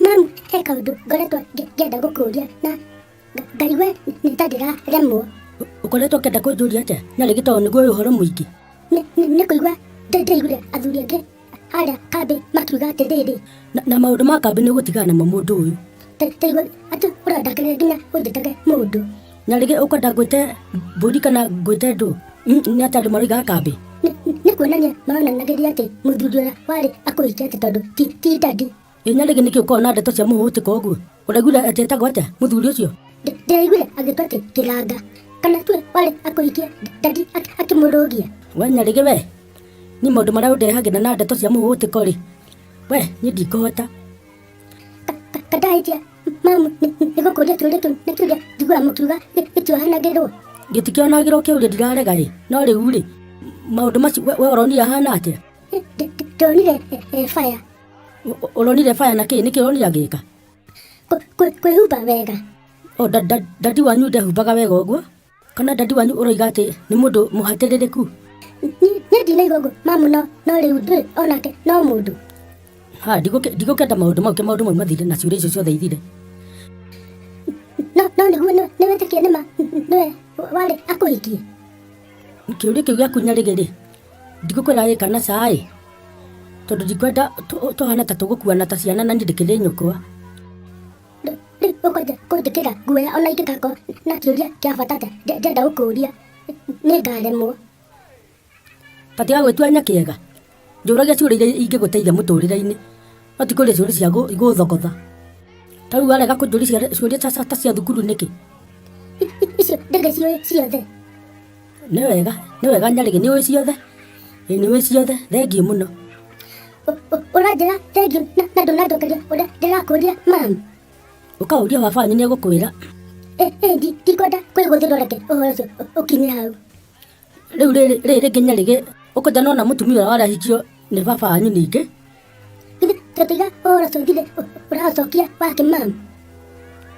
Mami, he kaũndũ ngoretwo ngĩenda gũkũria na Ngai we nĩ ta ndĩraremwo. Ũkoretwo ũkĩenda kũnjũria atĩa? Na rĩngĩ tondũ nĩguo ũyũ ũhoro mũingĩ. Nĩ kũigua ndĩraiguire athuri angĩ harĩa kambĩ makiuga atĩrĩrĩ. Na maũndũ ma kambĩ nĩ ũgũtigana namo mũndũ ũyũ. Ndaigua atĩ ũrandakĩrĩria nginya ũnjĩtage mũndũ. na rĩngĩ ũkwenda ngwĩte mbũri kana ngwĩte ndũ Mm, nĩ atĩ andũ maroigaga kambĩ Nĩ- nĩ- nĩ kuonania maronanagĩria atĩ mũthuri ũrĩa warĩ akũhĩtia atĩ tondũ ti ti ndandi ĩ na rĩngĩ nĩkĩ ũkoragwo na ndeto cia mũhũtĩka ũguo ũraiguire atĩ etagwo atĩa mũthuri ũcio Ndĩ- ndĩraiguire agĩtua atĩ kĩranga kana tue warĩ akũhikia ndandi ak- akĩmũrũgia we nyarĩgĩ we nĩ maũndũ marĩa ũndehagĩra na ndeto cia mũhũtĩko rĩ we niĩ ndikũhota kadahĩtia mamu nĩgũkũria twĩrĩtũ nĩ kĩũria njiguaga mũkiuga gĩtiohanagĩrwo gĩtikĩonagĩrwo kĩũria ndirarega rĩ no rĩu rĩ maũndũ macio we ũronire ahana atĩa ndonire baya ũronire baya na kĩĩ nĩkĩ ũronire agĩka kwĩhumba wega dadi wanyu ndehumbaga wega ũguo kana dadi wanyu ũroiga atĩ nĩ mũndũ mũhatĩrĩrĩku niĩ ndinaigua ũguo mamu no no rĩu ndũĩ onake no mũndũ ha ndigũke- ndigũkenda maũndũ mau ke maũndũ mau mathire na ciũria icio ciothe ithire no no nĩguo nĩ- nĩwĩtĩkie nĩma nĩwe warĩ akũhikie kĩũria kĩu gĩaku nyarĩgĩrĩ ndigũkwĩra gĩka na caĩ tondũ ndikwenda tũ- tũhana ta tũgũkuana ta ciana na niĩ ndĩkĩrĩ nyũkwa ũkwenda kũnjĩkĩra guoya ona ingĩgakorwo na kĩũria kĩa bata njenda gũkũria nĩ ngaremwo tatiga gwĩtuanya kĩega njũragia ciũria iria ingĩgũteithia mũtũrĩre-inĩ no ti kũria ciũria cia igũthogotha ta rĩu warega kũnjũria ciũria ta cia thukuru nĩkĩ icio ndege ciothe Nĩ wega, nĩ wega Nyarĩgĩ, nĩ ũĩ ciothe. Ĩ, Nĩ ũĩ ciothe, thengiũ mũno. Ũranjĩra thengiũ na na ndũnanjokeria ũrĩa ndĩrakũria mami. Ũkaũria baba wanyu nĩ egũkwĩra. Ĩ, ĩ, ndi- ndikwenda kwĩgũthĩrwo reke ũhoro ũcio ũ- ũkinye hau. Rĩu rĩrĩ rĩrĩ rĩngĩ Nyarĩgĩ, ũkũnja nona mũtumia ũrĩa warahikio nĩ baba wanyu ningĩ. Githĩ tũtiga ũhoro ũcio ũthire ũ- ũracokia wake mami.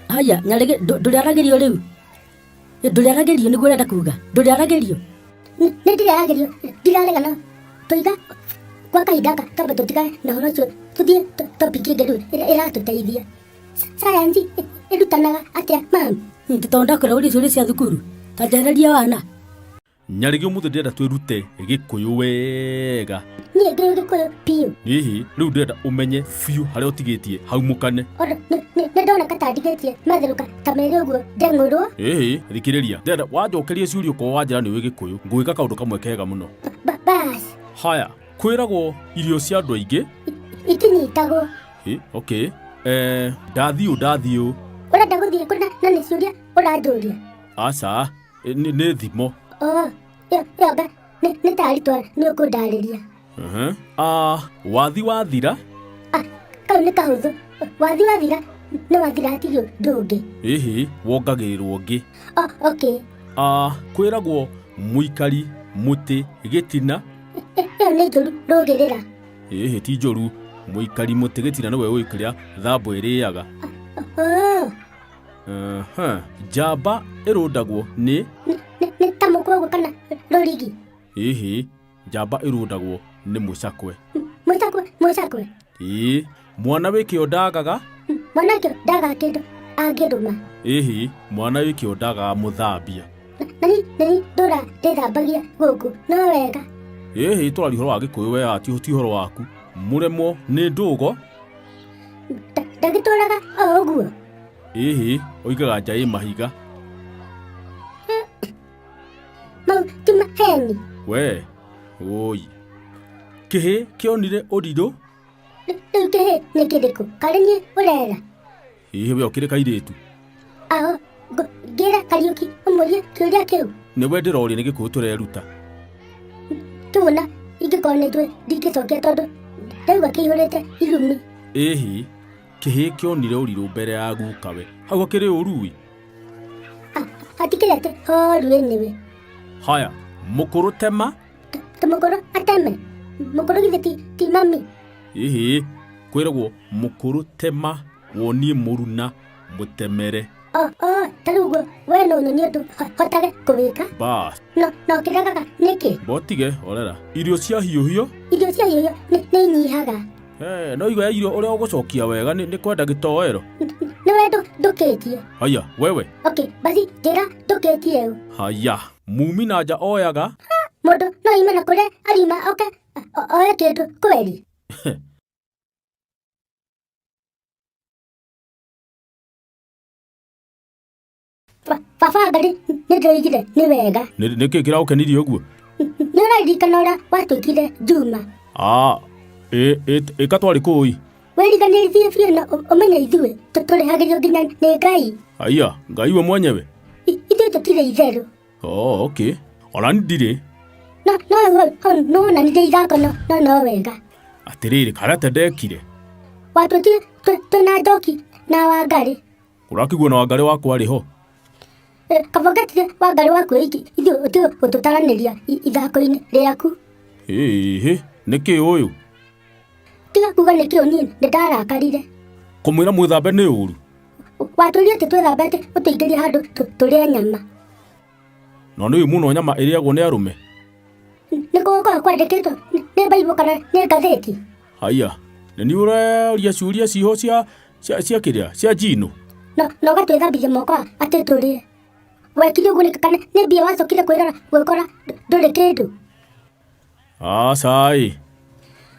Haya, Nyarĩgĩ, ndũ- ndũrĩaragĩrio rĩu. ndũrĩaragerio nĩguo ũrenda kuga ndũrĩaragerio nĩ ndĩrĩaragerio ndiraregana tũiga gwa kahinda gaka twambe tũtigane na ũhoro ũcio tũthiĩ to- topic ĩngĩ rĩu ĩrĩa ĩratũteithia Sa- sayansi ĩ- ĩrutanaga atĩa mami tondũ ndakwĩra ũrĩa ciũria cia thukuru ta njarĩria wana nyarĩgĩ ũmũthĩ ndĩrenda twĩrute gĩkũyũ wega niĩ ndĩ gĩkũyũ biũ hihi rĩu ndĩrenda ũmenye biũ harĩa ũtigĩtie hau mũkane Ona, nĩ- nĩ nĩ ndona katandigĩtie matherũka ta merĩ ũguo ndeng'ũrwo ĩhĩ thikĩrĩria ndĩrenda wanjokerie ciũria ũkorwo wanjĩra nĩ wĩ gĩkũyũ ngwĩka kaũndũ kamwe kega mũno Ba- bas haya kwĩragwo irio cia andũ aingĩ itinyitagwo Ĩ, okay eh, ndathiũ ndathiũ ũrenda gũthiĩ kũna na nĩ ciũria ũranjũria aca Ĩ, nĩ nĩ thimo Oh, ĩyo ĩyo nga nĩ nĩ taritwa nĩ ũkũndarĩria. Mhm. Ah, wathi wathira Ah, kau nĩ kahũthũ. Wathi wathira nĩ wathira atigio ndũngĩ. ĩhĩ wongagĩrĩrwo ngĩ Oh, okay. Ah, kwĩragwo mũikari mũtĩ gĩtina Ĩ- Ĩyo nĩ njũru rũgĩrĩra. ĩhĩ ti njũru mũikari mũtĩ gĩtina nĩwe ũĩ kĩrĩa thambũ ĩrĩaga Oh, Aha, njamba ĩrũndagwo nĩ Nĩ- nĩ- nĩ ta mũkũgũ kana rũrigi ĩhĩ njamba ĩrũndagwo nĩ mũcakwe mũcakwe mũcakwe ĩĩ mwana wĩkĩo ndagaga mwanake ndaga kĩndũ angĩrũma ĩhĩ mwana wĩkĩo ndagaga mũthambia na ni na ni ndũra ndĩthambagia gũkũ no wega ĩhĩ twarĩ ũhoro wa gĩkũyũ wea ti ti ũhoro waku mũremwo nĩ ndũgo ndagĩtũraga o ũguo ĩhĩ ũigaga nja ĩ mahiga mau ti maheni we ũi kĩhĩ kĩonire ũrirũ rĩu kĩhĩ nĩ kĩrĩkũ karĩ niĩ ũrera ĩhĩ we ũkĩrĩ kairĩtu Aho, ngo, ngĩra Kariũki ũmũrie kĩũria kĩu. nĩ we ndĩroria nĩ gĩkũyũ tũreruta Tũna, ingĩkorwo nĩ njũĩ ndingĩcokia tondũ ndaigua kĩihũrĩte irumi. ĩhi kĩhĩ kĩonire ũrirũ mbere ya gukawe hau akĩrĩ ũrui Ah, Hatikĩrĩ atĩ horuĩ nĩwe. haya mũkũrũ tema Tũ- Tũmũkũrũ ateme. Mũkũrũ githĩ ti- ti mami. ĩhĩ kwĩragwo mũkũrũ tema wonie mũruna mũtemere o o ta rĩu guo we nĩ ũnyonie ũndũ ho- hotage kũwĩka ba no no kĩragaga nĩkĩ botige orera irio cia hiũhio irio cia hiũhio nĩ nĩ inyihaga Eh, no igo ya irio ũrĩa ũgũcokia wega nĩ nĩ kwenda gĩtoero nĩ we ndũ- ndũkĩtie haya wewe ok basi njĩra ndũkĩtie ũ haya mumi na nja oyaga mũndũ no ime na kũrĩa arima oke o- oe kĩndũ kweri baba nĩ nĩndĩraigire nĩ wega nĩ kĩ kĩraũkenirie ũguo nĩ ũraririkana ũrĩa watwĩkire njuma aa ĩka twarĩ kũi wĩriganĩrie biũ na ũmenye ithuĩ tũrĩhagĩrio nginya nĩ ngai aiya ngai we mwenyewe ithuĩ tũtirĩ itherũ Oo, okay. Ona ndirĩ. No, no, no, no, na ndirĩ ithako no, no, no wega. Atĩrĩrĩ, karĩa te ndekire. Watũtire twĩna njoki na wangarĩ. Ũrakĩguo na wangarĩ wakwa rĩ ho? Eh, Kabongetire wangarĩ waku iki, ithuĩ ũtiga gũtũtaranĩria i- ithako-inĩ rĩaku. Ĩhĩ, nĩkĩ ũyũ? Tiga kuga nĩkĩ ũniĩ nĩndarakarire. Kũmwĩra mwĩthambe nĩ ũru. watũria atĩ twĩthambete ũtũingĩria handũ tũ- tũrĩe nyama na nĩ ũĩ mũno nyama ĩrĩagwo nĩ arũme nĩ gũgũkorwo kwandĩkĩtwo nĩ- nĩ baibũ kana nĩ ngathĩti haiya na nĩ ũraria ciũria ciho cia cia cia kĩrĩa cia njinũ na na ũgatwĩthambithia moko atĩ tũrĩe wekire ũguo nĩ kana nĩ mbia wacokire kwĩrora gwĩkora ndũ- ndũrĩ kĩndũ acaĩ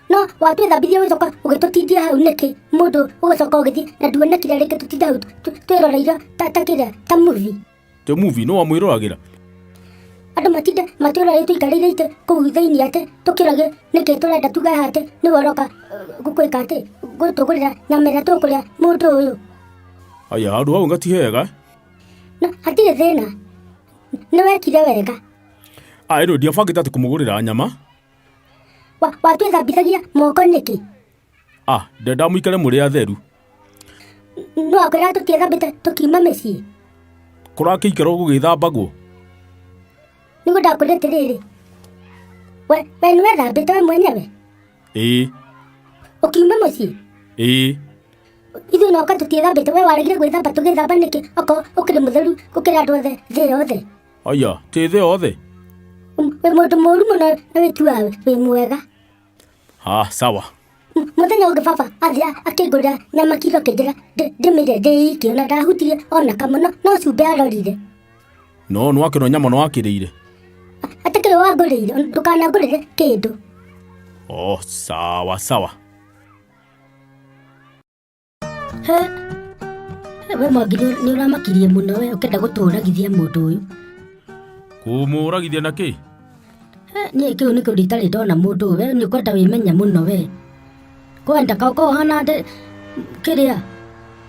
no watwĩthambithia ũgĩcoka ũgĩtũtindia hau nĩkĩ mũndũ ũgĩcoka ũgĩthiĩ na nduonekire rĩngĩ tũtinda hau tũ- tũ- twĩroreire ta ta kĩrĩa ta muvi tä muvi nä wamwä roragä ra andå matinde matwĩroreire tũikarĩire itĩ kũu thĩinĩ atĩ tũkĩrage nĩkĩ tũrenda tuge haha atĩ nĩ woroka gwĩka atĩ gũtũgũrĩra nyama ĩrĩa tũkũrĩa mũndũ ũyũ aya handå hau ngati hega na hatirĩ thĩna nĩ wekire wega aä rä ndiabangä te atä kå må gå rä ra nyama Wa- watwĩthambithagia moko nĩkĩ a ndenda må ikare må rä atheru no akwĩra tũtiethambĩte tũkiuma mĩciĩ kå rakä ikara gå gä thambagwo nĩguo ndakwĩra atĩrĩrĩ we we nĩwethambĩte we mwenyewe ä ũkiuma mũciĩ ä ithuĩ noka tũtiethambĩte we waregire gwĩthamba tũgĩthamba nĩkĩ okorwo ũkĩrĩ mũtheru gũkĩra andũ othe thĩ yothe Aya, tĩthĩ othe. Wĩ mũndũ mũru mũno na wĩtuaga wĩ mwega. Ah, sawa. M- Mũthenya ũngĩ baba athiĩ akĩngũrĩra nyama kiro kĩnjĩra ndĩ- ndĩmĩrĩe ndĩ iki ona ndahutirie ona kamwe no- no cumbĩ arorire. No nĩ wakĩrwo nyama nĩ wakĩrĩire. Atakĩrĩ wangũrĩire ona ndũkanangũrĩre kĩndũ. Oh, sawa sawa. He, he, we mwangi nĩ nĩ ũramakirie mũno we ũkenda gũtũũragithia mũndũ ũyũ kũmũragithia na kĩ He, niĩ kĩu nĩ kĩu nditarĩ ndona mũndũ ũyũ we nĩ ũkwenda wĩmenya mũno we kwenda ka ũkorwo ũhana ndĩ kĩrĩa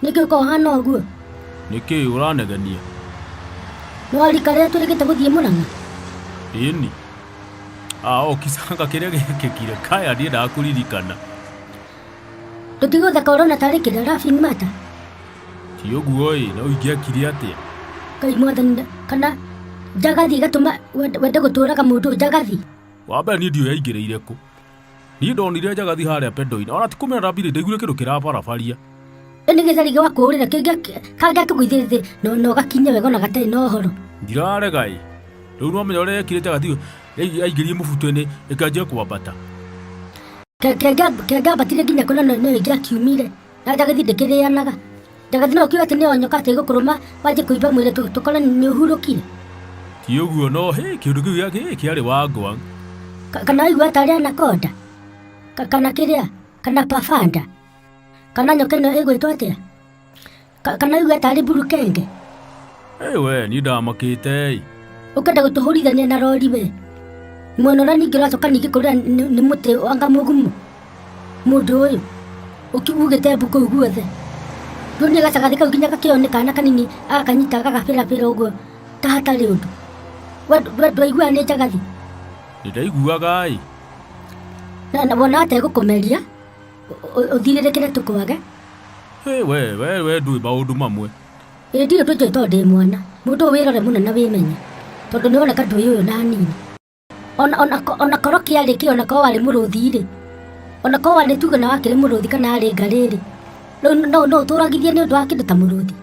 nĩ kĩu ũkorwo ũhana ũguo nĩ kĩ ũranegenia nĩ warika rĩrĩa tũrĩkĩte gũthiĩ mũrang'a ĩni a okisanga kĩrĩa gĩkĩkire kaya ndiendaga kũririkana tũtigũtha korona tarĩ kĩrĩa laughing matter ti ũguo ĩ na ũingĩakire atĩa ngai mwathani nda- kana njagathi ĩgatũma wende wende gũtũraga mũndũ njagathi wa mbere niĩ ndiũĩ yaingĩrĩire kũ niĩ ndonire njagathi harĩa pendoinĩ ona ti kũmena ndambire ndaiguire kĩndũ kĩrabarabaria ĩ nĩ gĩthari gĩa kũũrĩra kangĩa kĩgũithĩ thĩ na- na ũgakinya wega ona gatarĩ na ũhoro ndirarega ĩ rĩu nĩwamenya ũrĩa yekire njagathi Rĩu aingĩrie mũbuto-inĩ, reke anjie kwambata. Ke- ke- ngamba- ke ngambatire nginya kũrĩa no- no ingĩakiumire na ndagĩthiĩ ndĩkĩrĩanaga ndagĩthiĩ no ũkiuga atĩ nĩ onyoka atĩ gũkũrũma wanjie kũimba mwĩrĩ tũ- tũkore nĩ ũhurũkire Ti ũguo no, hĩ, kĩũndũ kĩu gĩa- gĩ- kĩarĩ wangwa. Ka- kana waigua atarĩ anakonda Ka- kana kĩrĩa kana pafanda kana nyoka ĩno ĩgwĩtwo atĩa Ka- kana iuga tarĩ burukenge Hey, we niĩ ndamakĩte ũkenda gũtũhũrithania na rori we mwena ũrĩa ningĩ ũracoka ningĩ kũrĩa nĩ nĩ mũtĩ anga mũgumu mũndũ ũyũ ũkiugĩte mbu kũu guothe rĩu nĩ gacagathĩ kau nginya gakĩone kana kanini agakanyita gagabĩrabĩra ũguo ta hatarĩ ũndũ we we ndwaiguaga nĩ njagathi nĩ ndaiguaga ĩ na na wona ategũkũmeria ũthirĩrĩkĩre tũkwage Hey, we we we ndui maundu mamwe ĩ ndirĩ ndũnjũĩ tondũ ndĩ mwana mũndũ ũyũ wĩrore mũno na wĩmenye tondũ nĩ woneka ndũĩ ũyũ na nini ona ona ko- ona korwo kĩarĩ kĩ ona korwo warĩ mũrũthi-rĩ ona korwo warĩ tuge na wakĩrĩ mũrũthi kana arĩ ngarĩ-rĩ rĩu no no ũtũragithie nĩ ũndũ wa kĩndũ ta mũrũthi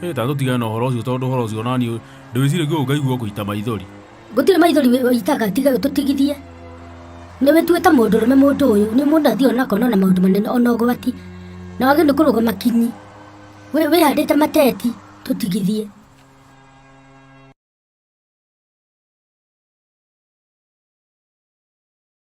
Hey, ta tũtigane na ũhoro ũcio tondũ ũhoro ũcio nani ndĩwĩcirĩgia ũngaigua kũita maithori gũtirĩ maithori wĩitaga tiga tũtigithie nĩ wĩtuĩte mũndũ rũme mũndũ ũyũ nĩ mũndũ athiĩ onakona na maũndũ manene ona ũgwati na wagĩ nĩ kũrũga makinyi wĩhandĩte mateti tũtigithie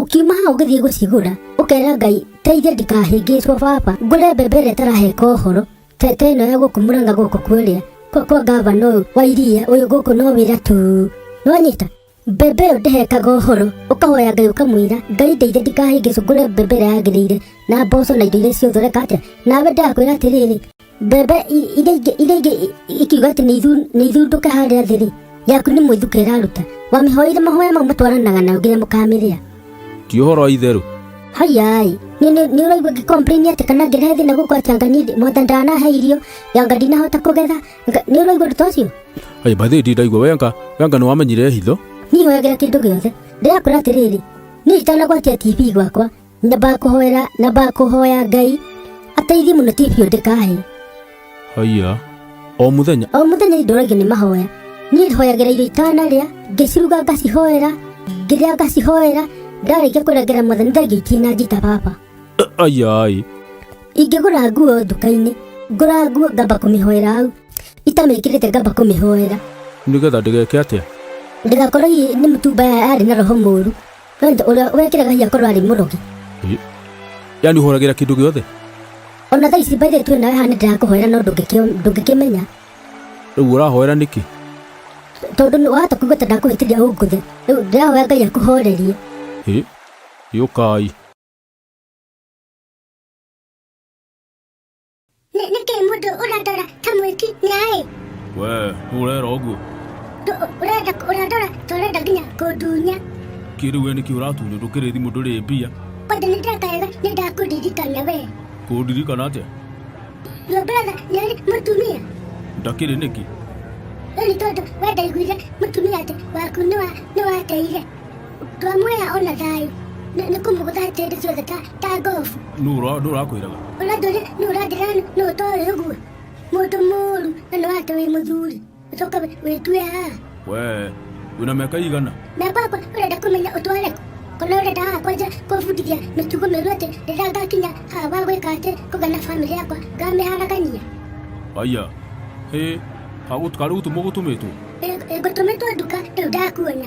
ũkiuma hau ngĩthiĩ gũcigũra ũkera ngai teithia ndikahĩngĩcwo baba ngũre mbembe ĩrĩa ĩtaraheka ũhoro te te ĩno ya gũkũ mũranga gũkũ kuorĩa kwa kwa ngavana ũyũ wa iria ũyũ gũkũ no wĩra tu nonyita mbembe ĩyo ndĩhekaga ũhoro ũkahoya ngai ũkamwĩra ngai ndeithia ndikahĩngĩcwo ngũre mbembe ĩrĩa yagĩrĩire na mboco na indo iria ciothe reka atĩa nawe ndakwĩra atĩrĩrĩ mbembe i- iria ingĩ iria ingĩ i- ikiuga atĩ nĩithu- nĩithundũke harĩa thĩ-rĩ yaku nĩ mwĩthuka ĩraruta wamĩhoire mahoya mau matwaranaga nayo nginya mũkamĩrĩa ti ũhoro wa itherũ hayai nĩ nĩ- nĩ ũraigua ngĩkomplaini atĩ kana ngĩrehe thĩna gũkũ atĩ anga niĩ mwatha ndanahe irio yanga ndinahota kũgetha Nga- nĩ ũraigua ũndũ ta ũcio ai bathĩ ndi ndaigua wenga wenga nĩ wamenyire hitho niĩ hoyagĩra kĩndũ gĩothe ndĩrakũra atĩrĩrĩ niĩ itanagwatia tv gwakwa nyambaga kũhoera nyambaga kũhoya ngai ateithie mũno tv ĩyo ndĩkahe haiya o mũthenya o mũthenya nĩndũragio nĩ mahoya niĩ hoyagĩra irio itanarĩa ngĩciruga ngacihoera ngĩrĩa ngacihoera ndarĩkia kũrengera mwathani thengia itinanjita baba ayai ingĩgũra nguo nduka-inĩ ngũra nguo ngamba kũmĩhoera hau itamĩkĩrĩte ngamba kũmĩhoera nĩgetha ndĩgeke atĩa ndĩgakorwo i- nĩ mũtumba ya- arĩ na roho mũru Wenda ũrĩa wekire gai akorwo arĩ mũrogi. yani ũhoragira kindu giothe Ona thaa ici mbaithĩ twĩ nawe hana ndĩrakũhoera no ndũngĩkĩ- ndũngĩkĩmenya. riu ũrahoera niki Tondũ nĩ wahota kuigua ta ndakũhĩtĩria ũngũthe. Rĩu ndĩrahoya Ngai akũhorerie. Ĩ, yũkai Ne- neke mũndũ ũrandora ta mwĩki nĩ aĩ we ũrera ũguo Ndũ- ũrenda ũrandora ta ũrenda nginya kũndunya kĩrĩu we nĩkĩ ũratunya ndũkĩrĩ thimũ ndũrĩ mbia kwanja nĩ ndeka wega nĩ ndakũririkana we kũndirikana atĩa your brother nĩ arĩ mũtumia ndakĩrĩ nĩkĩ rĩu nĩ tondũ wendaiguire mũtumia atĩ waku nĩ wa- nĩ wateire twamuoya ona thayũ Nĩ- nĩ kũmũgũtha tĩndĩ ciothe ta- ta ngobu nũ ũrakwĩraga ũrathũri nĩ ũrathĩra nĩ ũtoĩ ũguo mũndũ mũru na nĩ wake wĩ mũthuri ũcoka wĩ- wĩtue haha we wĩna mĩaka igana mĩaka yakwa ũrenda kũmenya ũtware kũ? kana ũrenda haha kwanja kũbundithia mĩtugo mĩũru atĩ rĩrĩa ngakinya haha wa gwĩka atĩ kũgana bamĩrĩ yakwa ngamĩharagania aya hĩ karĩu gũtũmĩtwo ngũtũmĩtwo nduka rĩu ndakuona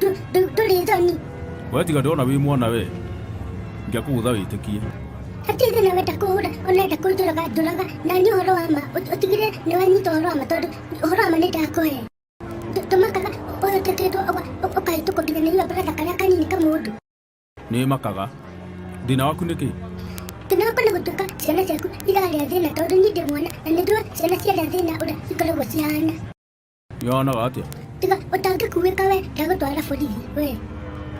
ndũrĩthoni we tiga ndona wĩ mwana we ngĩakũgũtha wĩtĩkie hatirĩ thĩna wenda kũhũra onenda kũnjũraga njũraga na nĩ ũhoro wa ma ũtigire nĩ wanyita ũhoro wa ma tondũ ũhoro wa ma nĩ ndakũhe tũmakaga ũyũ tũkĩtwo ũkahĩtũkwo nginya nĩ iwambarada karĩa kanini ka mũndũ nĩ makaga thĩna waku nĩ kĩ thĩna waku nĩ gũtuĩka ciana ciaku irarĩa thĩna tondũ niĩ ndĩ mwana na nĩ njũĩ ciana ciarĩa thĩna ũrĩa ikoragwo cihana yonaga atia tiga ũtange kuwĩka we ndagũtwara borithi we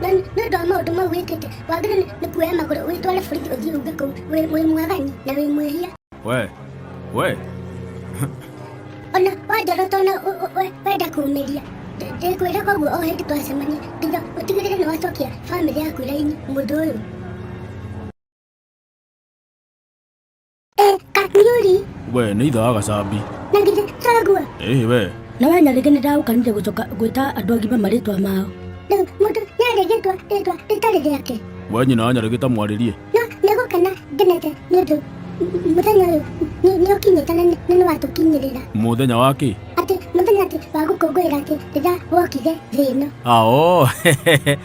na nĩ ũndũ wa maũndũ mau wĩkĩte wagĩrĩ nĩ kuoya magũrũ wĩtware borithi ũthiĩ uge kũu wĩ wĩ mwagani na wĩ mwĩhia we we ona wanjara tona ũ- ũ- we- wenda kũmĩria ndĩkwĩra koguo o hĩndĩ twacemania nginya ũtigĩrĩre nĩ wacokia bamĩrĩ yaku raini mũndũ ũyũ Eh, kakiyuri. We, nĩ itha wa gacambi. Na githĩ tũtagua? Ĩhĩ we. Na we nyarĩngĩ nĩ ndagũkanire gũcoka gwĩta andũ agima marĩtwa mao. Na mũndũ nĩarĩ rĩtwa rĩtwa rĩtarĩ rĩake. We nyina wa nyarĩngĩ ta mwarĩrie. No nĩ gũkena ngenete nĩ ũndũ mũthenya ũyũ nĩ ũkinyĩte na nĩ watũkinyĩrĩra. Mũthenya wa kĩ? Atĩ mũthenya atĩ wa gũkũngũĩra atĩ rĩrĩa wokire thĩ ĩno. Ao.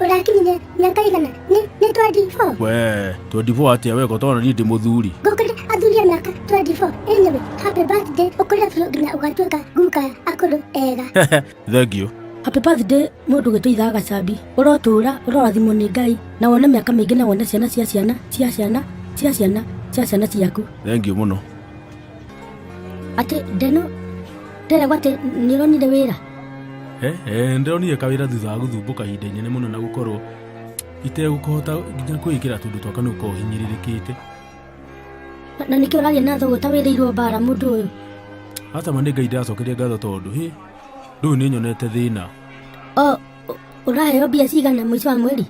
ũrakinyire mĩaka igana nĩ nĩ 24 we 24 atia we gotona ni ndi muthuri ngũkĩrĩ athuria mĩaka 24 anyway happy birthday ũkũrĩa biũ nginya ũgatuĩka guka ya akũrũ ega thengiũ happy birthday mũndũ gwĩtũ ithaa gacambi ũrotũũra ũrorathimwo nĩ ngai na wone mĩaka mĩingĩ na wone ciana cia ciana cia ciana cia ciana cia ciana ciaku thengiũ mũno atä ndeno nderegwa atä nä å ronire wä ra Eh, eh, ndĩronire kawĩra thutha wa gũthumbũka ihinda inene mũno na gũkorwo itegũkũhota nginya kwĩkĩra tũndũ twaka nĩ ũkorwo hinyĩrĩrĩkĩte na nä kä å raria na thogå ta wä rä irwo mbara må ndå å yå atama nĩ ngai ndĩracokeria ngatho tondũ hĩ ndũyũ nĩ nyonete thĩna o å raheo mbia cigana må ico wa mweri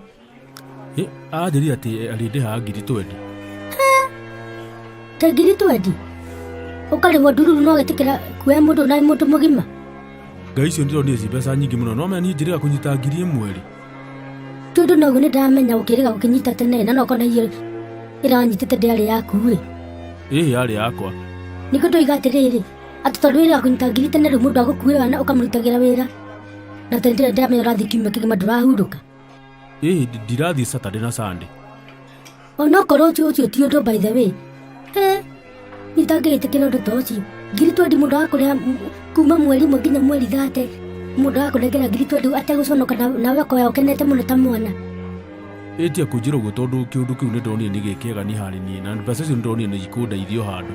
Ĩ, anjĩrire atĩ arĩndĩhaga ngiri twendi ta ngiri twendi ũkarĩhwo ndururu no wĩtĩkĩra kuoya mũndũ na mũndũ mũgima ngai icio ndĩronire ci mbeca nyingĩ mũno no mena niĩ njĩrĩga kũnyita ngiri ĩmwe rĩ tondũ noguo nĩ ndamenya ũkĩrĩga ũkĩnyita tene na nokona iyo ĩranyitĩte ndĩarĩ yaku-ĩ ĩĩ yarĩ yakwa nĩkĩo ndoiga atĩrĩrĩ atĩ tondũ wĩra kũnyita ngiri tene rĩu mũndũ agũkuĩra na ũkamũrutagĩra wĩra na tene ndĩramenya ũrathiĩ kiumia kĩgima ndũrahurũka ĩĩ ndi- ndirathiĩ saturday na sunday onokorwo ũcio ũcio ti ũndũ by the way eh nitangĩgĩtĩkĩra ũndũ ta ũcio ngiri twendi mũndũ wakũrĩa kuma mweri mwe nginya mweri thate mũndũ wakũnengera ngiri twendi ategũconoka na- nawe akoya ũkenete mũno ta mwana ĩtia kũnjĩra ũguo tondũ kĩũndũ kĩu nĩ ndonire nĩ gĩkĩega nĩ harĩ niĩ na mbeca icio nĩ ndonire nĩ ikũndeithio handũ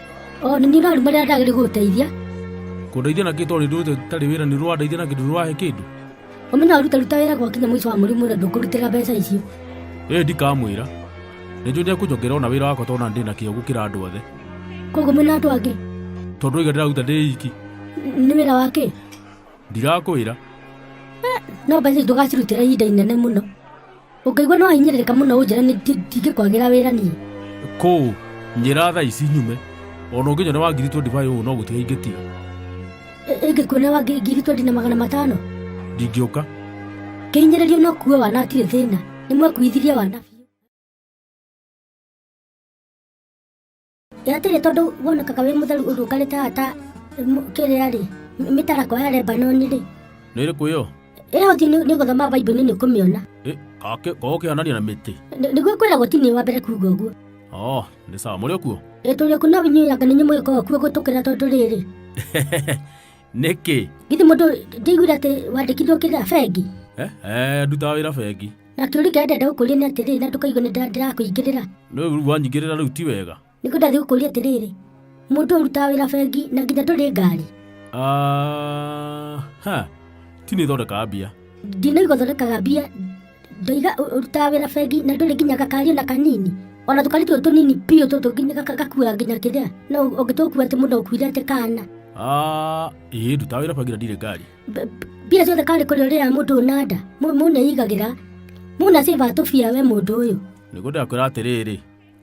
o nĩ nyina ruma rĩrĩa ndagĩrĩ gũteithia kũndeithia na kĩtwarĩ ndũte tarĩ wĩra nĩ rwandeithia na kĩndũ rwahe kĩndũ ũmenya ũruta ruta wĩra gwakinya mũico wa mũrimũ na ndũkũrutĩra mbeca icio ĩĩ ndikamwĩra nĩ njũĩ ndekũnjongera ona wĩra wakwa tona ndĩ na kĩo gũkĩra andũ othe koguo mwĩna andũ angĩ tondũ iga ndĩraruta ndĩ iki nĩ wĩra wa kĩ ndirakwĩra no mbeca ici ndũgacirutĩra ihinda inene mũno ũngĩigua no ahinyĩrĩrĩka mũno ũnjĩra nĩ ndingĩkwagĩra wĩra niĩ kũu njĩra tha ici nyume ona ũngĩnywa nĩ wangiritwo ndivai ũũ no gũtiga ingĩtiga ĩngĩkuona wa ngiri ngiri twendi na magana matano ndingĩũka kĩhinyĩrĩrio no kuue wana atirĩ thĩna nĩ mwekuithirie wana biũ ĩ atĩrĩ tondũ wonekaga wĩ mũtheru ũrũngarĩte haha ta mũ- kĩrĩa rĩ mĩ- mĩtarakwa ya lebanoni rĩ nä rä kå ä yo ĩyo ti nĩ gũthoma baibuli nĩ kũmĩona korwo kä hanania na mä tä Nĩ- nĩguo kwĩragwo ti nĩ wa mbere kuga ũguo o nä sawa må rä o kuo ĩtũrĩ ku no inyuĩaga nĩ nyũmũgĩkorwo kuo gũtũkĩra tondũ rĩrĩ nä kä githĩ mũndũ ndĩiguire atĩ wandĩkithio kĩrĩa bengi ndutaga wä ra bengi na kĩũri kĩrĩa ndĩrenda gũkũria nĩ atĩrĩrĩ na ndũkaigue nĩ ndĩra- ndĩrakũingĩrĩra no rĩu wanyingĩrĩra rĩu ti wega nĩ kũ ndathiĩ gũkũria atĩrĩrĩ mũndũ ũrutaga wĩra bengi na nginya ndũrĩ ngari Ah, ha ti nĩ thondekaga mbia ndinaigua thondekaga mbia ndaiga ũ- ũrutaga wĩra bengi na ndũrĩ nginya gakari ona kanini ona tũkari tũtũ tũnini biũ tũtũ nginya gaka- gakua nginya kĩrĩa no ũngĩtũkua atĩ mũndũ ũkuire atĩ kana Ah, ĩĩ ndutaga wĩra bengi na ndirĩ ngari B- b- mbia ciothe karĩ kũrĩ ũrĩa mũndũ ũnanda mũneigagĩra mũna ciba tũbia we mũndũ ũyũ nĩguo ndakwĩra atĩrĩrĩ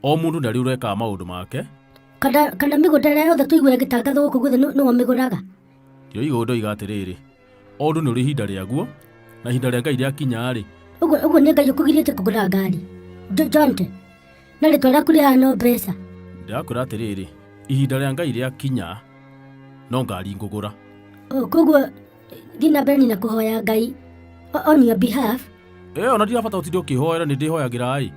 o mũndũ ndarĩ ũrekaga maũndũ make kana kana mĩgũnda ĩrĩa yothe tũigua ĩgĩtangathwo gũkũ gwothe nĩ- nĩwe mĩgũraga kĩo igũrũ ndoiga atĩrĩrĩ o ũndũ nĩ ũrĩ ihinda rĩaguo na ihinda rĩa ngai rĩakinya-rĩ ũguo ũguo nĩ ngai ũkũgirĩte kũgũra ngari Jo- jonte na rĩtwa rĩaku rĩhano mbeca ndĩrakwĩra atĩrĩrĩ ihinda rĩa ngai rĩakinya no ngari ngũgũra O, koguo thiĩ na mbere na kũhoya ngai o- on your behalf ĩyo ona ndirabata ũtinde ũkĩhoera nĩ ndĩhoyagĩra ĩ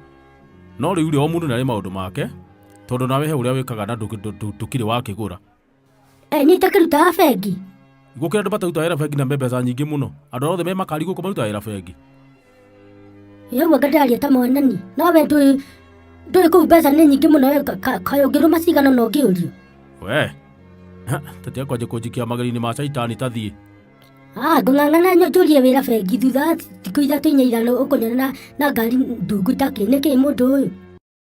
no rĩu rĩ o mũndũ nĩ arĩ maũndũ make tondũ nawe he ũrĩa wĩkaga na ndũkĩ- ndũ- ndũ- ndũkĩrĩ wakĩgũra e nyite kirutaga bengi ngukira andu mataruta wira bengi na mbeca nyingi muno andu arothe me makari guku maruta wira bengi yeguo ngataria ta mwanani nawe ndũĩ ndũĩ kũu mbeca nĩ nyingĩ mũno we kayũngĩrũma cigana na ũngĩũrio we tete kwanje kunjikia mageri-inĩ ma caitani tathiĩ Ah, ngũng'ang'ana njũrie wĩra bengi thutha wa thikũ ithatũ inya igana ũkũnyona na ngari ndungu itakĩ nĩkĩ mũndũ ũyũ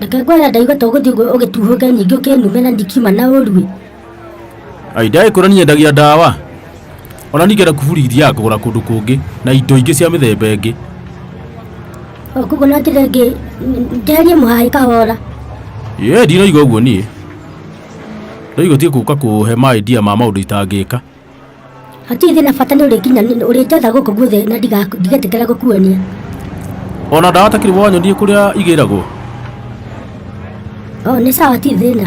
reke ngwara ndaigua to gũthiĩ ũguo ũgĩtuhũke nyingĩ ũkĩnume na ndikiuma na ũrue ai ndaĩ kũra niĩ endagia ndawa ona ningĩ na kuburi ithiaga kũgũra kũndũ kũngĩ na indo ingĩ cia mĩthemba ĩngĩ koguo no njĩre ngĩ njeherie mũhaĩ kahora ye ndiraigua ũguo niĩ ndaigua tiĩ kũka kũhe ma idea ma maũndũ itangĩka hatirĩ thĩna bata nĩ ũrĩnginya ũrĩ njatha gũkũ guothe na ndiga- ndigetĩkĩra gũkuonia ona ndawa takiri wanyondie kũrĩa igĩragwo o nĩ sawa ti thĩna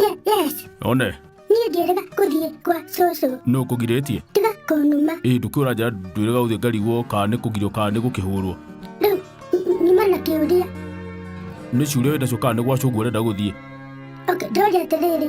Ye- yes one niĩ ndĩrega gũthiĩ kwa cũcũ nũ kũgirĩtie tiga kũnuma ĩ ndũkĩũra njara ndwĩrega ũthiĩ ngarigwo kana nĩ kũgirio kana nĩ gũkĩhũrwo rĩu nyuma na kĩũria nĩ ciũria wĩ nacio kana nĩ gwacũngwo ũrenda gũthiĩ okay ndoria atĩrĩrĩ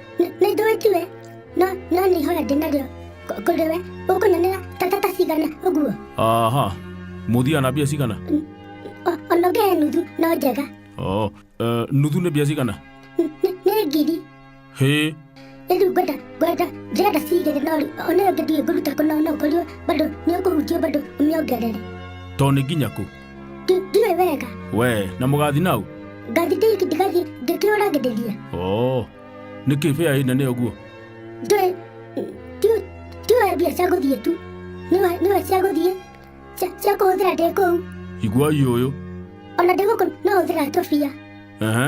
nĩ ndũĩ njue no no nĩ ihoya ndĩ narĩo kũ- kũrĩ we ũkũnyonera ta ta ta cigana ũguo aha mũthia na mbia cigana O- ona ũngĩhe nuthu no njega oh, uh, nuthu nĩ mbia cigana Nĩ- nĩ- nĩ ngiri hĩ rĩu ngwenda ngwenda njĩrenda cigĩrĩ no rĩ- ona ũngĩ nduĩ ngũruta kũna ona ũkorirwo bado nĩ ũkũhunjio bado ũmĩongerere to nĩ nginya kũ Ti- ndiwe wega we na mũgathi nau ngathi ndĩiki ndigathi ndĩkĩũragĩrĩria oo nĩ kĩ bĩa ĩna nĩ ũguo ndũĩ ti- tiwe mbia cia gũthiĩ tu Nĩwe- nĩwe cia gũthiĩ cia- cia kũhũthĩra ndĩ kũu iguai ũyũ ona ndĩ gũkũ no hũthĩra tũbia ehe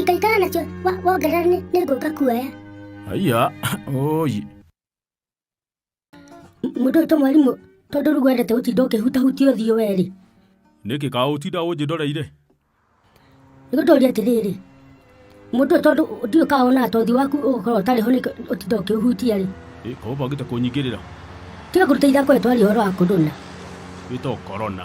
ikaikara nacio wongerera nĩ ngũka kuoya aiya oyi mũndũ ũyũ to mwarimũ tondũ rĩu wendete gũtinda ũkĩhutahutia ũthiũ werĩ nĩkĩ kaũ ũtinda ũnjĩndoreire nĩ gũtũria atĩrĩrĩ mũndũ ũyũ tondũ ndiũ kaũ ona ũthiũ waku ũgũkorwo ũtarĩ ho ũtinda ũkĩhutia rĩ ĩka ũbangĩte kũnyingĩrĩra tiga kũruta ithako ĩtwaria ũhoro wa kũndũna wĩtwo korona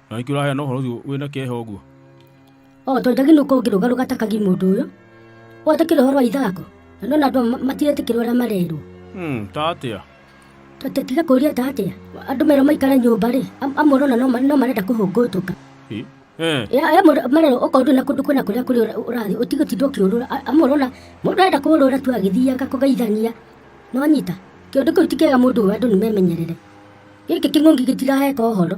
na nĩkĩ ũraheana ũhoro ũcio wĩna kĩeha ũguo o tondũ ndagĩrĩirwo ũngĩrũga rũgatakagia mũndũ ũyũ watakĩra ũhoro wa ithako na ndona andũ ma- matiretĩkĩra ũrĩa marerwo Hmm, ta atĩa tũtiga kũria ta atĩa andũ merwo maikare nyũmba rĩ am- amwe ũrona no ma- no marenda kũhũngũtũka Eh, eh, Ya- ya mũndũ- marerwo okorwo ndũrĩ na kũndũ kwĩna kũrĩa kũrĩ ũra- ũrathiĩ ũtige ũtinde ũkĩũrũra A- amwe ũrona mũndũ arenda kũũrũra tu agĩthiaga kũgeithania nonyita kĩũndũ kĩu ti kĩega mũndũ ũyũ andũ nĩ memenyerere gĩkĩ kĩng'ũngi gĩtiraheka ũhoro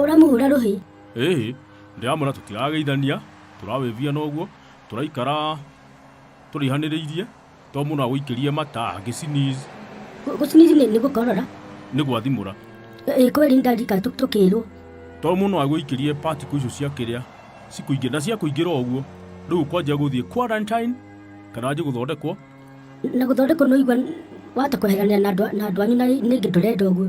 Ũramũhũra rũhĩ? Ĩĩ, ndĩramwĩra tũtirageithania, tũrawĩvia noguo, tũraikara tũrĩhanĩrĩirie, to mũndũ agũikĩrie mata angĩciniz. Gũciniz nĩ gũkorora? Nĩ gwathimũra. Ĩĩ kweli ndarika tũkĩrwo. To mũndũ agũikĩrie particle icio cia kĩrĩa cikũingĩra na cia kũingĩra ũguo rĩu kwanja gũthiĩ quarantine kana nje gũthondekwo na gũthondekwo nĩ ũigua wata kweheranĩra na andũ anyu na ningĩ ndũrenda ũguo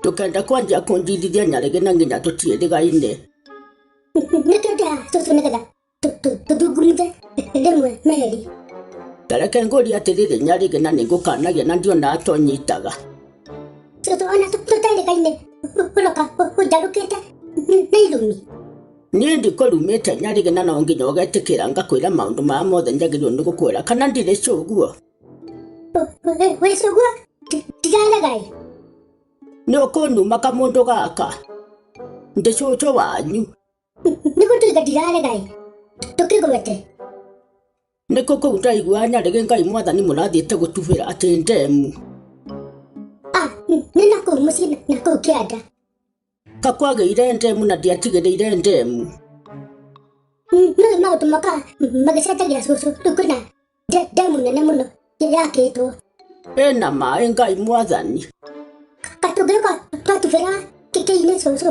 Ndũkenda kwanjia kũnjirithia nyarĩgĩ na nginya tũtiĩrĩgaine. Nĩ twendaga tũtũ nĩgetha tũthungumithe rĩmwe meri. Tareke ngũri atĩrĩrĩ nyarĩgĩ na nĩngũkanagia na ndiona atonyitaga. Tũtũ ona tũterĩgaine ũroka ũnjarũkĩte na irumi. Niĩ ndikũrumĩte nyarĩgĩ na no nginya ũgetĩkĩra ngakwĩra maũndũ maya mothe njagĩrĩirwo nĩ gũkwĩra kana ndirĩ cũguo? wĩcũgua ndiraragaĩ nĩ ũkũnuma kamũndũ gaka ndĩ cũcũ wanyu nĩ gũtuĩka ndiraragaĩ tũkĩgwete nĩ kũ kũu ndaigua nyarĩgĩ ngai mwathani mũrathiĩte gũtubĩra atĩ ndemu ah, nĩ nakũu mũciĩ nakũu kĩanda Kakwagĩire ndemu na ndiatigĩrĩire ndemu. Nĩ maũndũ moka magĩcenjagia cũcũ, rĩu kwĩna nde- ndemu nene mũno yakĩtwo. Ĩna maĩ Ngai mwathani. Ka tũngĩũka twatubĩra kĩkĩ-inĩ cũcũ,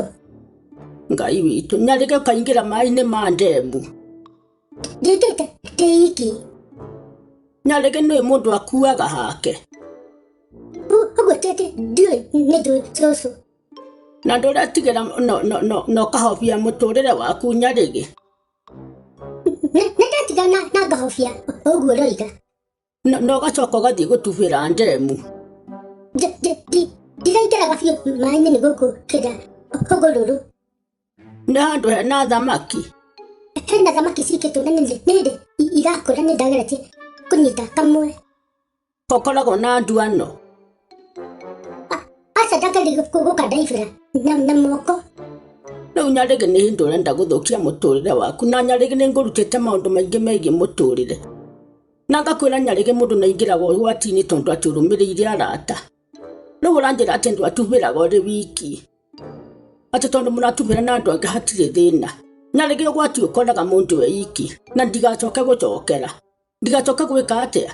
Ngai witũ. Nyarĩge ũkaingĩra maĩ-inĩ ma ndemu. ndĩkĩte ndĩ iki. Nyarĩge nĩ mũndũ akuaga hake. Ũ- Ũguo ti atĩ ndiũĩ nĩ njũĩ cũcũ. Na ndũretigĩra na ũkahobia mũtũrĩre waku nyarĩgĩ. Nĩndetiga na ngahobia ũguo ũroiga. Na ũgacoka ũgathiĩ gũtubĩra ndemu. Ndiraingĩraga biũ maĩ-inĩ nĩ gũkũ kĩrĩa hũgũrũrũ. Nĩ handũ hena thamaki. Hena thamaki cikĩtũra nĩ hĩndĩ irakũra nĩ ndageretie kũnyita kamwe. Kokoragwo na nduano. Aca ndakari gũka ndaibĩra na na moko. Rĩu nyarĩgĩ nĩ hĩndĩ ũrenda gũthũkia mũtũrĩre waku na nyarĩgĩ nĩ ngũrutĩte maũndũ maingĩ megiĩ mũtũrĩre. Na ngakwĩra nyarĩgĩ mũndũ nĩ aingĩraga ũgwati-inĩ tondũ atĩ ũrũmĩrĩire arata. Rĩu ũranjĩra atĩ ndwatubĩraga ũrĩ wiki. Atĩ tondũ mũratubĩra na andũ angĩ hatirĩ thĩna. Nyarĩgĩ ũgwati ũkoraga mũndũ e iki na ndigacoke gũcokera. ndigacoka gwika atia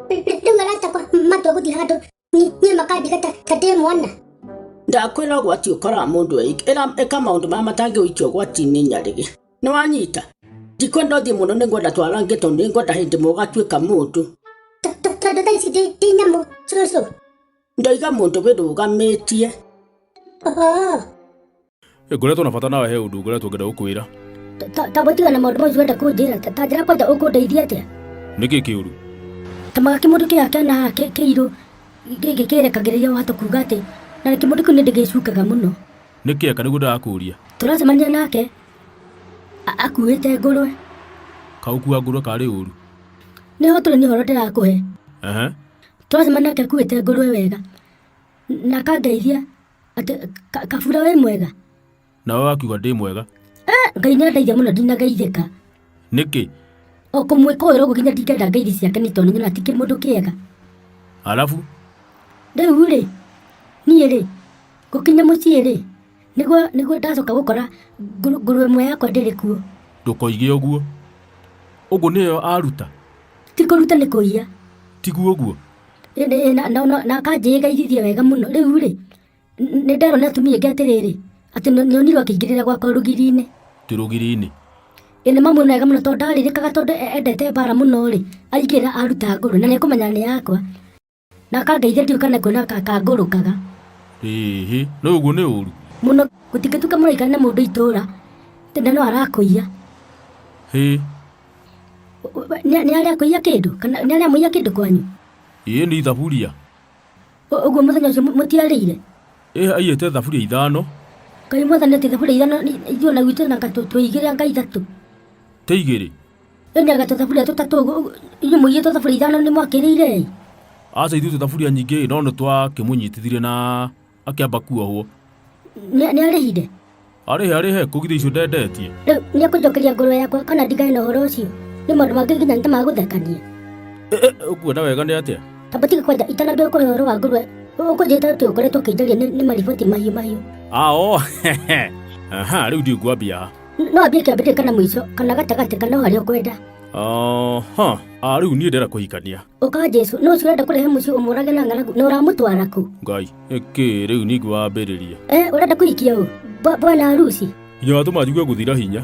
Rĩu maratakwa matua gũthiĩ handũ Ni- niĩ makandiga ta ta ndĩ mwana ndakwĩra ũgwati ũkoraga mũndũ eik ĩra ĩka maũndũ marĩa matangĩ ũikio ũgwati-inĩ nyarĩgĩ nĩ wanyita ndikwenda ũthiĩ mũno nĩ ngwenda twarange tondũ nĩ ngwenda hĩndĩ ĩmwe ũgatuĩka mũndũ To- to- tondũ thaa ici ndĩ- ndĩ nyamũ cũcũ ndoiga mũndũ wĩrũgamĩtie Oh, ngoretwo na bata nawe he ũndũ ngoretwo ngenda gũkwĩra Ta- ta- ta gũtiga na maũndũ macio wenda kũnjĩra ta- ta njĩra kwanja ũkũndeithia atĩa nĩkĩ kĩũru ta magaki mũndũ kĩya kĩana kĩ- kĩirũ gĩkĩ kĩrekagĩrĩria wahota kuga atĩ na rĩngĩ mũndũ kĩu nĩ ndĩgĩcukaga mũno nĩkĩ eka nĩguo ndagakũria tũracemania nake a- akuĩte ngũrwe kaũkua ngũrwe karĩ ũru nĩho tũrĩ nĩ ũhoro ndĩrakũhe ehe tũracemania nake akuĩte ngũrwe wega na akangeithia Atĩ, ka- kabura wĩ mwega nawe wakiuga ndĩ mwega Eh, ngai nĩ andaithia mũno ndinageithĩka nĩkĩ o kũmwĩkũĩra ũguo nginya ndingenda ngeithi ciake nĩ tondũ nĩnyona tikĩ mũndũ kĩega alafu rĩu rĩ niĩ rĩ gũkinya mũciĩ rĩ nĩguo nĩguo ndacoka gũkora ngũrũ- ngũrũwe ĩmwe yakwa ndĩrĩ kuo ndũkoige ũguo ũguo nĩyo aruta ti kũruta nĩ kũiya tiguo ũguo Ĩndĩ ĩ, na- na- na- na akanjĩĩ ngaigithie wega mũno rĩu rĩ nĩ nderwo nĩ atumia aingĩ atĩrĩrĩ atĩ nĩ- nĩonirwo akĩingĩrĩra gwakwa rũgiri-inĩ ti rũgiri-inĩ ĩ nĩ mamuona wega mũno tondũ ndarirĩkaga tondũ e- endete mbara mũno rĩ aingĩra aruta ngũrũ na nĩ akũmenya nĩ yakwa na akangeithia ndiũka na kuona ka- kangũrũkaga ĩhĩ no ũguo nĩ ũru mũno gũtikĩtuka mũraikara na mũndũ itũũra tena no arakũiya hĩ Nĩ nĩ arĩa kũiya kĩndũ? Kana nĩ arĩa mũiya kĩndũ kwanyu? ĩĩ nĩ ithaburia Ũ- Ũguo mũthenya ũcio mũ- mũtiarĩire? ĩ aiyĩte thaburia ithano Ngai mwathani atĩ thaburia ithano nĩ- ithuĩ na gwitũ na gatũ tũigĩrĩ anga ithatũ. tĩ igĩrĩ Ĩ nĩ agatũ thaburia tũtatũ ũguo, ũguo- inyuĩ mũigĩtwo thaburia ithano nĩ mwakĩrĩire ĩ? aca ithuĩ tũthaburia nyingĩ no nĩ twakĩmũnyitithire na akĩamba kuohwo Nĩ nĩ arĩhire? arĩhe arĩhe kũgitha icio ndendetie Rĩu nĩ ekũnjokeria ngoro yakwa kana ndigane na ũhoro ũcio? Nĩ maũndũ mangĩ nginya nĩ ta ma gũthekania. Eh, eh, ũkuona wega nĩ atĩa Tamba tiga kwanja itanambia kũrĩ ũhoro wa ngũrwe. Ũkũnjĩta atĩ ũkoretwo ũkĩnjaria nĩ nĩ mariboti mahiũ mahiũ. ao aha rĩu ndingwambia ha N- No ambie kĩambĩrĩria kana mũico, kana gatagatĩ, kana o harĩa ũkwenda. aha Ah, rĩu niĩ ndĩra kũhikania ũka jesu nũ ũcio ũrenda kũrehe mũciĩ ũmũrage na ng'aragu na ũramũtwara kũ ngai ĩkĩ rĩu ningĩ wambĩrĩria Eh, ũrenda kũhikia ũ Bwa- bwana harusi yatũma njigue gũthira hinya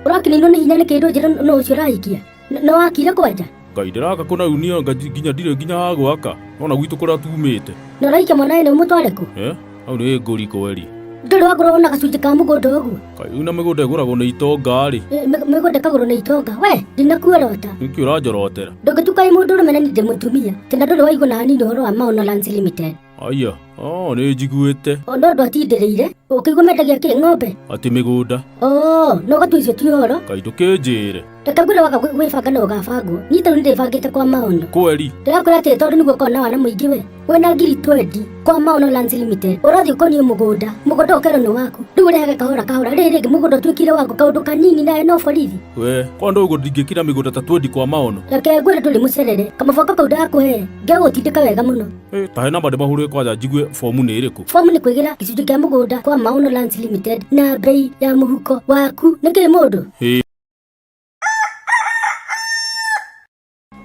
ũrakinĩirwo nĩ hinya nĩ kĩndũ njĩra nũ ũcio ũrahikia N- nĩ wakire kwanja ngai ndĩraka kũnaunia nga- nginya ndirĩ nginya ha gwaka ona gwitũ kũrĩa tumĩte nĩ ũrahikia mwanawe nĩ ũmũtware kũ Eh? Hau nĩ ngũri kweri. Ndũrĩ wagũragwo na gacunjĩ ka mũgũnda ũguo? Kaĩ una mĩgũnda ĩgũragwo nĩ itonga-rĩ. Eh, mĩ- Mĩgũnda ĩkagũrwo na itonga. We, ndinakuorota. Nĩkĩ ũranjorotera? Ndũngĩtukaĩ mũndũ ũrũme na ningĩ mũtumia. Tena ndũrĩ waigua na hanini ũhoro wa Maono Lands Limited. Aya, oo nĩ njiguĩte. O no andũ atindĩrĩire. Ũkĩigua mendagia kĩ ng'ombe? Atĩ mĩgũnda. Oo, no ũgatua icio ti ũhoro. Kaĩ ndũkĩnjĩre. reke ngwĩre waga gwĩ- gwĩbanga na ũgabangwo niĩ tarĩu ndĩbangĩte kwa maono kweli ndĩrakwĩra atĩrĩ tondũ nĩguo ũkorwo na wana mũingĩ we wĩna ngiri twendi kwa maono lands limited ũrathiĩ ũkoniĩ mũgũnda mũgũnda ũkerwo nĩ waku rĩu ũrehage kahora kahora rĩrĩ rĩngĩ mũgũnda ũtuĩkire waku kaũndũ kanini nawe no borithi we kwa ndå å guo ndingäkira mä gå nda ta twendi kwa maono reke ngwĩre ndũrĩ mũcerere kamaboko kau ndakũhe ngegũtindĩka wega mũno Eh, ta hena mandä mahå rä kwanja njigue bomu nä ä rä kå fomu nĩ kwĩgĩra gĩcunjĩ kĩa mũgũnda kwa maono lands limited na mbei ya mũhuko waku nĩ kĩĩ mũndũ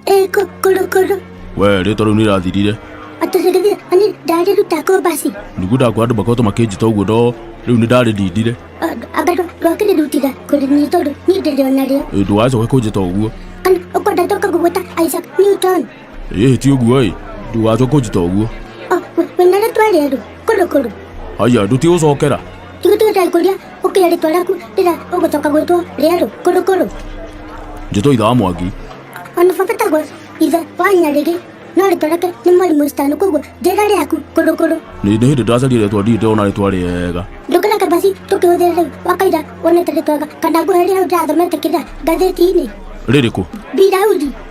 えー、こ、ころころ。Wee, rĩtwa rĩu nĩ irathirire Atũcirithia, ani ndarĩ ruta kombasi. nĩguo kwa andũ makoretwo makĩnjita ũguo no rĩu nĩ ndarĩ ndindire Anga rwakĩrĩ rutira kũrĩ niĩ tondũ niĩ ndĩrĩ o narĩo. ndũgacoke kũnjĩta ũguo Kana ũkwenda ndoka gũgwĩta Isaac Newton. ĩhĩ ti ũguo ĩ ndugacwo kũnjita ũguo O, we- we na rĩtwa rĩerũ kũrũ kũrũ haya ndũtigũcokera tigu tũgĩtae kũria ũkĩra rĩtwa rĩaku rĩrĩa ũgũcoka gwĩtwo rĩerũ kũrũ kũrũ njĩtwo itha wa mwangi ona baba tagwo ithe wa nyarĩrĩ no rĩtwa rĩake nĩ mwarimũ stano koguo njĩra rĩaku kũrũ kũrũ nĩ nĩ hĩndĩ ndacaria rĩtwa ndirĩ ndĩrona rĩtwa rĩega ndũkĩra kabasi tũkĩhũthĩra rĩu wakaira wonete rĩtwaga kana ngũhe rĩrĩa ndĩrathomete kĩrĩa ngathĩti-inĩ rĩrĩkũ biraudi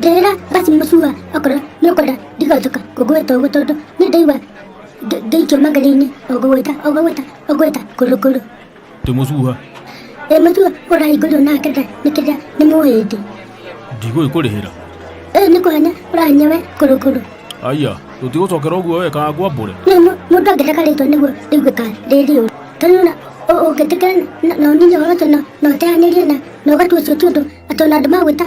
ndĩrĩra basi mũcua okorwo nĩ ũkwenda ndigacoka kũgwĩta ũguo tondũ nĩ ndaigua ndĩ- ndĩikio magari-inĩ ũgũgwĩta ũgũgwĩta ũgwĩta kũrũkũrũ ndĩ mũcuha ĩ mũcua ũrahingũrio na kenda nĩ kenda nĩ mũhĩndĩ ndigũĩ kũrĩhĩra ĩ nĩ kũhanya ũrahanya we kũrũkũrũ aya tũtigũcokera ũguo we kana ngwambũre nĩ mũ- mũndũ angĩenda karĩtwa nĩguo ndĩigue ka rĩrĩ ũru tondũ na ũ- ũngĩtĩkĩra na- na ũninye ũhoro ũcio na- na ũteanĩrie na na ũgatua ũcio ti ũndũ atĩ ona andũ magwĩta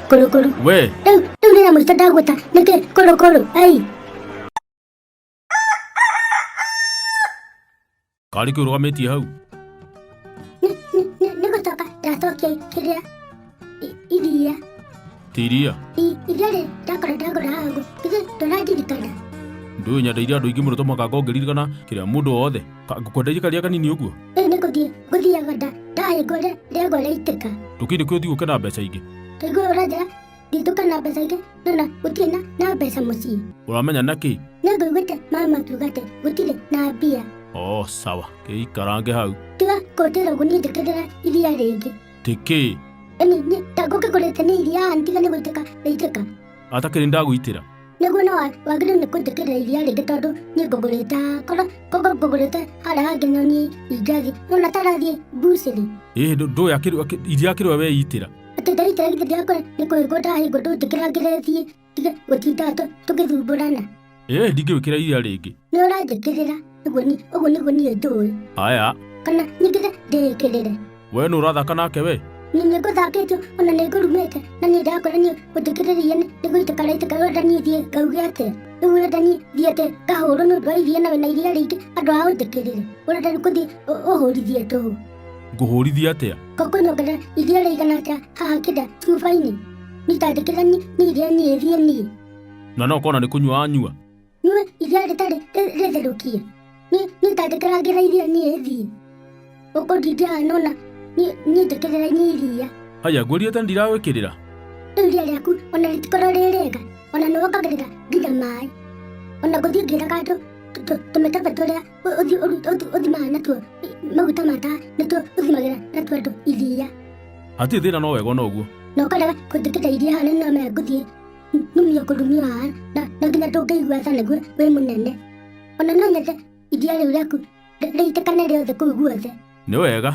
Kolo kolo. Wee. Ew, ew ne na multa dagota. Nake kolo kolo. Ai. Karĩ kĩu rũgamĩtie hau. Nĩ gũcoka ndacokia kĩrĩa iria. Ti iria? Iria rĩ ndakora ndagũra hangu. Githĩ ndũrandirikana? Ndũĩ nyendeire andũ aingĩ mũno to mũhaka ngorwo ngĩririkana kĩrĩa mũndũ wothe. Ngũkwendeire karĩa kanini ũguo? rĩu nĩ gũthiĩ gũthiaga nda ndaĩ ngore rĩagwa rĩaitĩka ndũkĩndĩ kwĩ ũthiĩ gũke na mbeca ingĩ ndaigua ũranjĩra nditũka na mbeca ingĩ no na gũtirĩ na na mbeca mũciĩ ũramenya nakĩ nĩ ngũiguĩte mama akiuga atĩ gũtirĩ na mbia o sawa kĩikarange hau tiga kũndĩra ũguo niĩ njĩkĩrĩra iria rĩngĩ tĩkĩ ĩni niĩ ta ngũkĩgũrĩte nĩ iria ntiga nĩ gũitĩka rĩitĩka Atake nĩ ndagũitĩra. nĩguo no wa- wagĩrĩirwo nĩ kũnjĩkĩrĩra iria rĩngĩ tondũ niĩ ngũgũrĩte korwo korwo ngũgũrĩte harĩa hangĩ no niĩ ingathiĩ ona tarathiĩ mbucĩrĩ Ĩĩ ndũ- ndũĩ akĩrũ- akĩ- iria akĩrũa we itĩra. atĩ ndaitĩra githĩ ndĩakora nĩ kũhingwo ndahingwo ndũnjĩkĩra ngĩrethiĩ tige gũtinda tũ- tũgĩthumbũrana ĩĩ ndingĩwĩkĩra iria rĩngĩ nĩ ũranjĩkĩrĩra ũguo ni- ũguo nĩguo niĩ njũĩ aya kana nyingĩre ndĩĩkĩrĩre we nĩ ũrathaka nake we nĩ nĩ ngũthakĩtio ona nĩ ngũrumĩte na niĩ ndakora niĩ ũnjĩkĩrĩre iria nĩ nĩ gũitĩka raitĩka wenda niĩ thiĩ ngauge atĩa rĩu wenda niĩ thiĩ atĩ ngahũrwo nĩ ũndũ wa iria na wĩna iria rĩingĩ andũ a ũnjĩkĩrĩre ũrenda rĩu kũthiĩ ũ- ũhũrithie tũhũ ngũhũrithia atĩa ngũkũnyongera iria rĩigana atĩa haha kĩnda cuba-inĩ nitandĩkĩra niĩ nĩ iria niĩ thiĩ niĩ na no kona nĩ kũnyua anyua nyue iria rĩtarĩ rĩ- rĩtherũkie Niĩ- niĩ tangĩkĩrangĩra iria niĩ thiĩ ũkũ ndingĩaga nona niĩ niĩ njĩkĩrĩra niĩ iria haya ngũrie tena ndiragwĩkĩrĩra rĩu iria rĩaku ona rĩtikorwo rĩ rĩega ona nĩ wongagĩrĩra nginya maĩ ona gũthiĩ ngĩraga andũ tũ- tũ- tũmĩkebe tũrĩa ũ- ũthi- ũru- ũthi- ũthimaga natuo i- maguta ma tawa nĩtuo ũthimagĩra natuo andũ iria hatirĩ thĩna no wega ona ũguo na ũkarega kũnjĩkĩra iria hana no maya ngũthiĩ nĩmenya kũndũ niĩ ũrahara na na nginya ndũngĩigua tha nĩguo wĩ mũnene ona no nyende iria rĩu rĩaku rĩ- rĩitĩkane rĩothe kũu guothe nĩ wega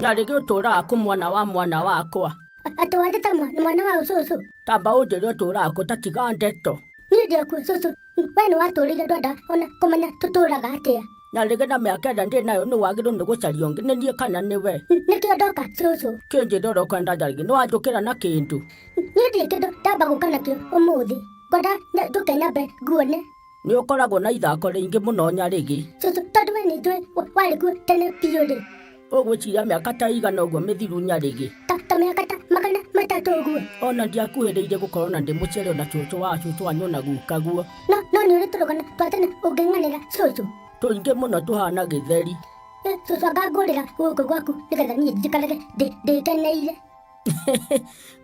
na rĩgĩ ũtũũraga kũ mwana wa mwana wakwa A- atĩ wandĩta mwa- mwana wa ũcũcũ tamba ũnjĩre ũtũũraga kũ ta tiga ndeto niĩ ndĩakuo cũcũ we nĩ watũũrire ndwenda ona kũmenya tũtũũraga atĩa na rĩngĩ na mĩaka ĩrĩa ndĩ nayo nĩ wagĩrĩirwo nĩ gũcaria ũngĩ nĩ niĩ kana nĩ we nĩkĩo ndoka cũcũ kĩnjĩra ũrĩa ũkwenda njarĩrie nĩ wanjũkĩra na kĩndũ niĩ ndirĩ kĩndũ ndamba gũka nakĩo ũmũthĩ ngwenda nya- njũke nyambe nguone nĩ ũkoragwo na ithako rĩingĩ mũno nyarĩgĩ cũcũ tondũ we nĩ njũĩ wa- warĩ kuo tene biũ rĩ ũgwĩciria mĩaka ta igana ũguo mĩthiru nyarĩgĩ ta ta mĩaka ta magana matatũ ũguo ona ndiakuhĩrĩirie gũkorwo na ndĩ mũciari ona cũcũ wa cũcũ wanyu ona gukaguo no no nĩ ũrĩ tũrũgano twa tene ũngĩng'anĩra cũcũ tũingĩ mũno tũhana gĩtheri Eh, cũcũ anga ngũrĩra gũkũ gwaku nĩgetha niĩ njikarage ndĩ- ndĩkeneire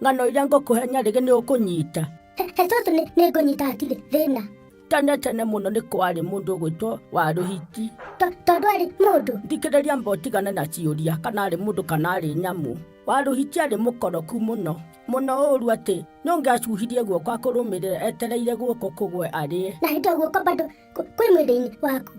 ng'ano iria ngũkũhe nyarĩgĩ nĩ ũkũnyita he he cũcũ nĩ nĩ ngũnyita hatirĩ thĩna tene tene mũno nĩ kwarĩ mũndũ ũgwĩtwo warũhiti To- tondũ arĩ mũndũ thikĩrĩria mba ũtigane na ciũria kana arĩ mũndũ kana arĩ nyamũ warũhiti arĩ mũkoroku mũno mũno ũru atĩ nũngĩacuhirie guoko akũrũmĩrĩra etereire guoko kũgwe arĩe na hĩndĩ guoko bado kwĩ mwĩrĩ-inĩ waku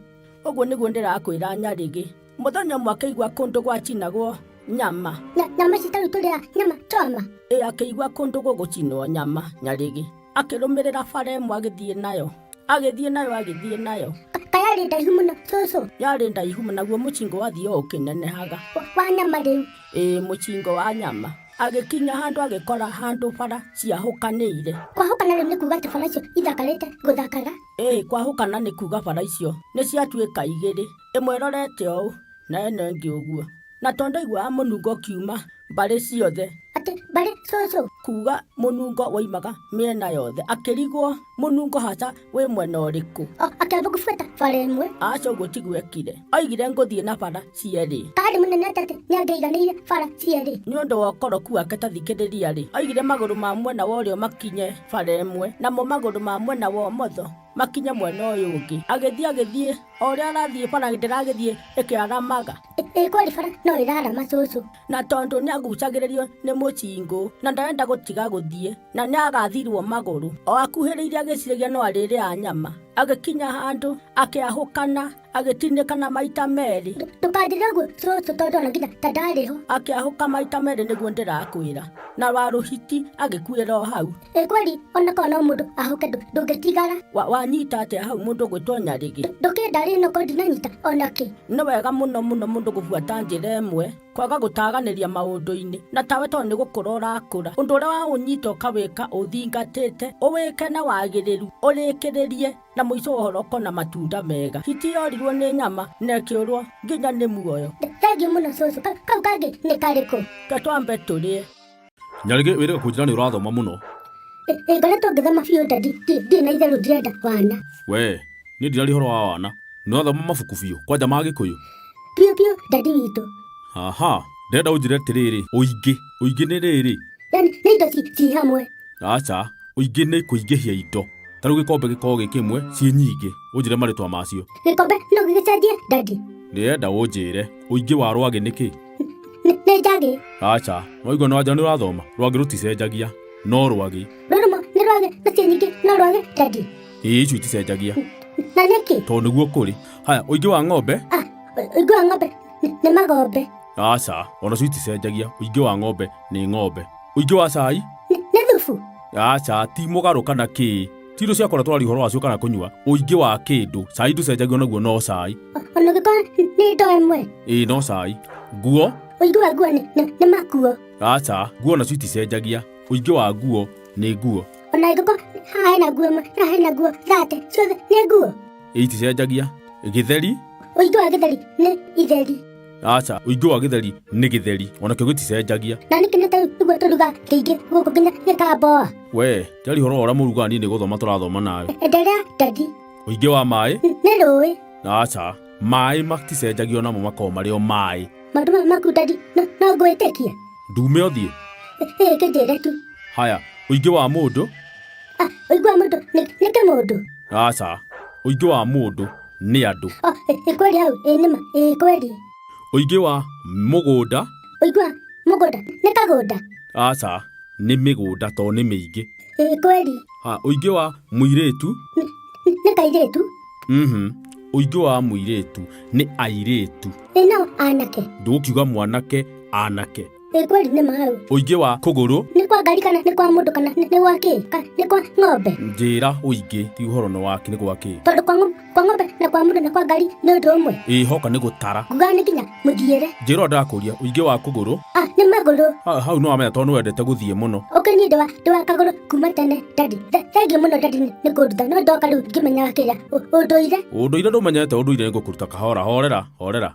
ũguo nĩguo ndĩrakwĩra nyarĩgĩ mũthenya ũmwe akĩigua kũndũ gwacinagwo nyama Na nyama ici tarĩu tũrĩa nyama choma. ĩ akĩigua kũndũ gũgũcinwo nyama nyarĩgĩ akĩrũmĩrĩra bara ĩmwe agĩthiĩ nayo agĩthiĩ nayo agĩthiĩ nayo Ka- Kayarĩ ndaihu mũno cũcũ. yarĩ ndaihu mũno, naguo mũcingo wathiĩ o ũkĩnenehaga Wa- Wa nyama rĩu. ĩ mũcingo wa nyama agĩkinya handũ agĩkora handũ bara ciahũkanĩire Kwahũkana rĩu nĩ kuga atĩ bara icio ithakarĩte gũthakara. ĩ kwahũkana nĩ kuga bara icio nĩ ciatuĩka igĩrĩ ĩmwe ĩrorete ũũ na ĩno ĩngĩ ũguo, na tondũ aiguaga mũnungo ũkiuma mbarĩ ciothe, Atĩ mbarĩ cũcũ. kuuga mũnungo woimaga mĩena yothe, akĩrigwo mũnungo haca wĩ mwena ũrĩkũ. O akĩamba kũbuata bara ĩmwe. Aca ũguo ti gwekire, oigire ngũthiĩ na bara cierĩ. Taarĩ mũnene atĩ atĩ nĩangĩaiganĩire bara cierĩ. Nĩ ũndũ wa ũkoroku wake ta thikĩrĩria-rĩ, oigire magũrũ ma mwena wa ũrĩo makinye bara ĩmwe, namo magũrũ ma mwena wa ũmotho makinye mwena ũyũ ũngĩ agĩthiĩ agĩthiĩ o ũrĩa arathiĩ bara ndĩragĩthiĩ ĩkĩaramaga ĩ kweli bara no ĩrarama cũcũ na tondũ nĩ agucagĩrĩrio nĩ mũcingũ na ndarenda gũtiga gũthiĩ na nĩ agathirwo magũrũ o akuhĩrĩirie agĩciragia no arĩrĩa nyama agĩkinya handũ akĩahũkana agĩtinĩka na maita merĩ ndũkanjĩre ũguo cũcũ tondũ ona nginya ta ndarĩ ho akĩahũka maita merĩ nĩguo ndĩrakwĩra na warũhiti agĩkuĩra o hau ĩ kweli ona korwo no mũndũ ahũke ndũ- ndũngĩtigara Wa- wanyita atĩa hau mũndũ gwĩtwo nyarĩgĩ ndũkĩndarĩ no korwo ndinanyita ona kĩ nĩ wega mũno mũno mũndũ gũbuata njĩra ĩmwe kwaga gũtaganĩria maũndũ-inĩ na tawe tondũ nĩ gũkũra ũrakũra ũndũ ũrĩa waũnyita ũkawĩka ũthingatĩte ũwĩke na wagĩrĩru ũrĩkĩrĩrie Na mũico wa ũhoro kona matunda mega. Hiti yorirwo nĩ nyama na ĩkĩũrwo nginya nĩ muoyo. Thengiũ mũno cũcũ. Ka- Kau kangĩ nĩ karĩkũ? Ta twambe tũrĩe. Nyarĩgĩ wĩrĩga kũnjĩra nĩ ũrathoma mũno. Ĩ- Ĩngorĩa tũngĩthoma biũ nda ndi- ndi- ndirĩ na itherũ ndirenda wana. Wee, niĩ ndiraria ũhoro wa wana. Nĩ ũrathoma mabuku biũ, kwanja ma Gĩkũyũ. Biũ biũ ndandi witũ. Aha, ndĩrenda ũnjĩre atĩrĩrĩ, ũingĩ. Ũingĩ nĩ rĩrĩ. Yani nĩ indo ci ci hamwe. aca ũingĩ nĩ kũingĩhia indo ta rĩu gĩkombe gĩkorwo gĩ kĩmwe ciĩ nyingĩ ũnjĩre marĩtwa macio gĩkombe no gĩgĩcenjie ndandi ndĩrenda ũnjĩre ũingĩ wa rwagĩ nĩ kĩ Nĩ- nĩ njagĩ aca noigua no anja nĩ ũrathoma rwagĩ rũticenjagia no rwagĩ rũrũmo nĩ rwagĩ na ciĩ nyingĩ no rwagĩ ndandi ĩĩ icio iticenjagia na nĩkĩ tondũ nĩguo kũrĩ haya ũingĩ wa ng'ombe Ah, ũingĩ wa ng'ombe nĩ- nĩ magombe aca ona cio iticenjagia ũingĩ wa ng'ombe nĩ ng'ombe Ũingĩ wa cai? Nĩ thubu. Aca, ti mũgarũ kana kĩĩ. Ti indo cia kũratũra rihoro wacio kana kũnyua. Ũingĩ wa kĩndũ. Cai ndũcenjagio naguo no cai. Ona ũngĩkorwo nĩ indo ĩmwe. Ĩĩ no cai. Nguo? Ũingĩ wa nguo nĩ makuo. Aca, nguo nacio iticenjagia. Ũingĩ wa nguo nĩ nguo. Ona angĩkorwo haha hena nguo ĩmwe, haha hena nguo thate, ciothe nĩ nguo. Ĩĩ iticenjagia. Gĩtheri? Ũingĩ wa gĩtheri nĩ itheri. aca ũingĩ wa gĩtheri nĩ gĩtheri onakĩo gĩticenjagia na nĩkĩ nĩ tau ũguo tũruga kĩingĩ gũkũ nginya gĩkamboa we tiari horo ũrĩa mũruga niĩ nĩ gũthoma tũrathoma nawe enderea dadi ũingĩ wa maĩ nĩ rũĩ aca maĩ maticenjagia onamo makorwo marĩ o maĩ maũndũ maya maku dadi no no ngwĩtĩkie ndume ũthiĩ ĩĩ kĩnjĩre tu haya ũingĩ wa mũndũ Ah, ũigua mũndũ nĩ nĩ kĩmũndũ aca ũingĩ wa mũndũ nĩ andũ Oh, ĩ- ĩ kweli hau ĩ nĩma ĩ kweli ũingĩ wa mũgũnda ũigua mũgũnda nĩ kagũnda aca nĩ mĩgũnda to nĩ mĩingĩ ĩ kweli ha ũingĩ wa mũirĩtu Nĩ- nĩ- nĩ kairĩtu mhm ũingĩ wa mũirĩtu nĩ airĩtu ĩ no anake ndũgũkiuga mwanake anake Ĩ kweli nĩ maru. Ũingĩ wa kũgũrũ. Nĩ kwa ngari kana nĩ kwa mũndũ kana nĩ gwa kĩ? Kana nĩ kwa ng'ombe? Njĩra ũingĩ ti ũhoro nĩ waki nĩ gwa kĩ? Tondũ kwa ng'ombe na kwa mũndũ na kwa ngari nĩ ũndũ ũmwe. Ĩ hoka nĩ gũtara. Nguga nĩ kinya mũthiĩre. Njĩra ndakũria ũingĩ wa kũgũrũ. Ah, nĩ magũrũ. Ah, hau no amenya tondũ nĩ wendete gũthiĩ mũno. Ũkĩ niĩ ndĩwa ndĩwa kagũrũ kuma tene dadi. Thengi mũno dadi nĩ kũnduta no ndoka rĩu ngĩmenyaga kĩrĩa ũndũire. Ũndũire ndũmenyete ũndũire nĩ ngũkũruta kahora horera horera.